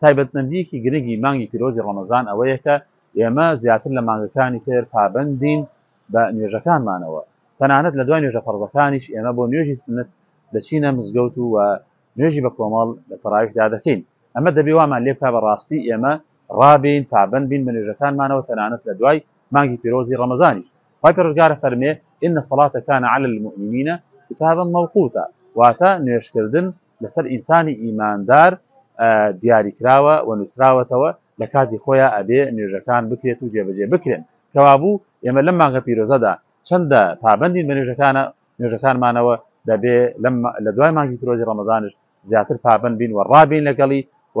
تایبەتمەندییەکی گرنگی مانگی پیرۆزی ڕەمەزان ئەوەیە کە ئێمە زیاتر لە مانگەکانی تر پابەندین بە نوێژەکانمانەوە، تەنانەت لە دوای نوێژە فەرزەکانیش ئێمە بۆ نوێژی سوننەت دەچینە مزگەوت و نوێژی بە کۆمەڵ لە تەراویحدا دەکەین، ئەمە دەبێ وامان لێ بکا بە ڕاستی ئێمە ڕابێین پابەند بین بە نوێژەکانمانەوە تەنانەت لە دوای مانگی پیرۆزی ڕەمەزانیش، خوای پەروەردگار ئەفەرمێ، ان الصلاة کان علی المومنین کتابا موقوتا، واتە نوێژکردن، لەسەر ئینسانی ئیماندار دیاری کراوە و نووسراوەتەوە لە کاتی خۆیان ئەبێ نوێژەکان بکرێت و جێبەجێ بکرێن کەوابوو ئێمە لەم مانگە پیرۆزەدا چەندە پابندین بە نوێژەکانە نوێژەکانمانەوە دەبێ لە دوای مانگی پیرۆزی ڕەمەزانش زیاتر پابند بین و ڕابین لەگەڵی و